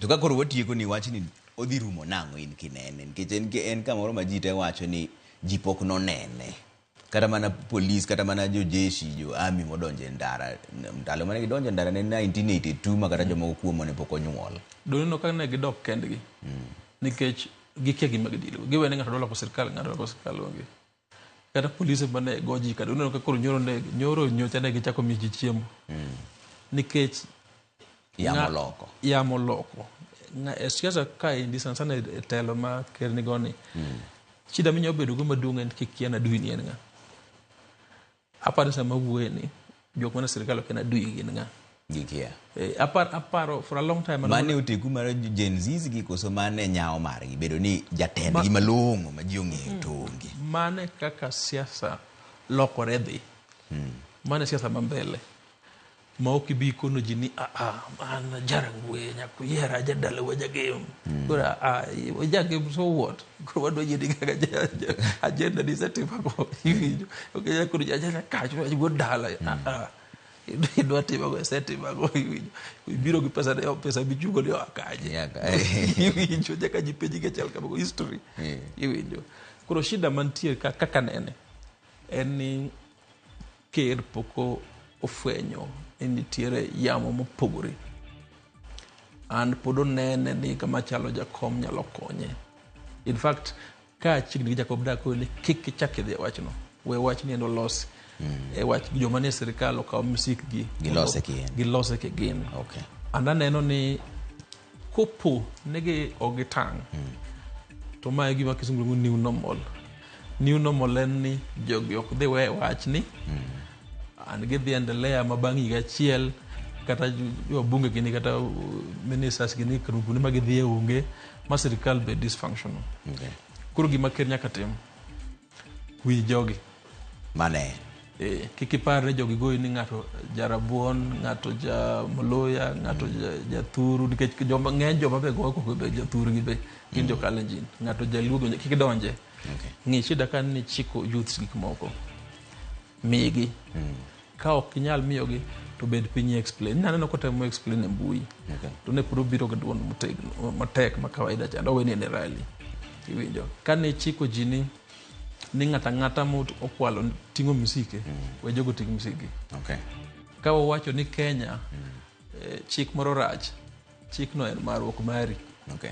To ka koro watieko ni wachni odhi rumo nang'o in kinene? Nikech en, en kamoro ma ji te wacho ni ji pok nonene. Kata mana polis, kata mana jojeshi, jo ami modonje ndara. Ndalo mane gidonje ndara ne 1982 ma kata jomoko kuomo ne pok onyuol. Doneno ka ne gidok kendgi. Mm. Nikech gikia gima gidilgo. Giwe ni ng'ato dwa loko sirkal, ng'ato loko sirkal onge. kata polise mane go ji kata uneno ka koro nyoro ne nyoro nyocha ne gichako miyo ji chiemo mm. nikech yamo loko yamo loko e siasa ka endi sana sana e telo ma ker ni goni mm. shida minyalo bedo go maduong' en kik kian adui ni en ng'a Aparo sama wuoye ni jok mana sirkal ok en adui gin ng'a? Gikia. Eh, apar, aparo for a long time. Mane oteku mar Gen Zs gi koso mane nyawo margi bedo ni jatend gi malong'o ma ji ong'eyo hmm. to onge. Mane kaka siasa lokore dhi. Hmm. Mane siasa ma mbele. ma ok ibi ikono ji ni aa an jarangwe nyaka uyiera jadala wa jagem mm. koro aa jagem so what koro wadwa yieni kaka agenda ni setimogo iwinjo ok koro jajana kacho go dala mm. aa idwa timago esetimago iwinjo ibiro gi pesa ne pesa michungo ni akaje iwinjo nyaka ji penji gi achiel kamago history iwinjo koro shida mantie kaka nene en ni Ker pok ofwenyo ni nitiere yamo mopogore. And pod onene ni kama chalo jakom nyalo konye. In fact, ka chiegni gi Jacob Dak ni kik ichak idhi e wachno. We wach ni endo losi. Mm. E wach joma nie sirkal okaw msik gi. Gilose kigin. Gilose kigin. Okay. And aneno ni Kopo negi ok gitang', to ma e gima kisungu luongo new normal. New normal en ni jogi ok dhi we wach ni and gidhi endelea ma bang' higa achiel kata wabunge gini kata uh, ministers gini kuonde ma gidhi e onge ma sirkal be dysfunctional. Okay. Koro gima ker nyaka tim Wi jogi. Mane? Eh, kik ipar ni jogi goyi ni ng'ato jarabuon, ng'ato ja Mluya, ng'ato ja Thuru nikech joma ng'eny joma be goyo koko be jathuru gi be gin mm. jo Kalenjin. Ng'ato jaluo kik donje. Okay. Ng'e shida kan ni chiko youths gik moko. migi mm. ka ok inyal miyogi to bed piny explain na neno kotemo explain e mbui okay. to ne puro biro ga duond motegno matek ma kawaida cha ndo weni ne rally iwinjo kane chiko ji ni ni ng'ata ng'ata mokwalo ting'o misike mm. we jogo ting' misike okay. ka wawacho ni kenya mm. eh, chik moro rach chikno en marruok mari okay.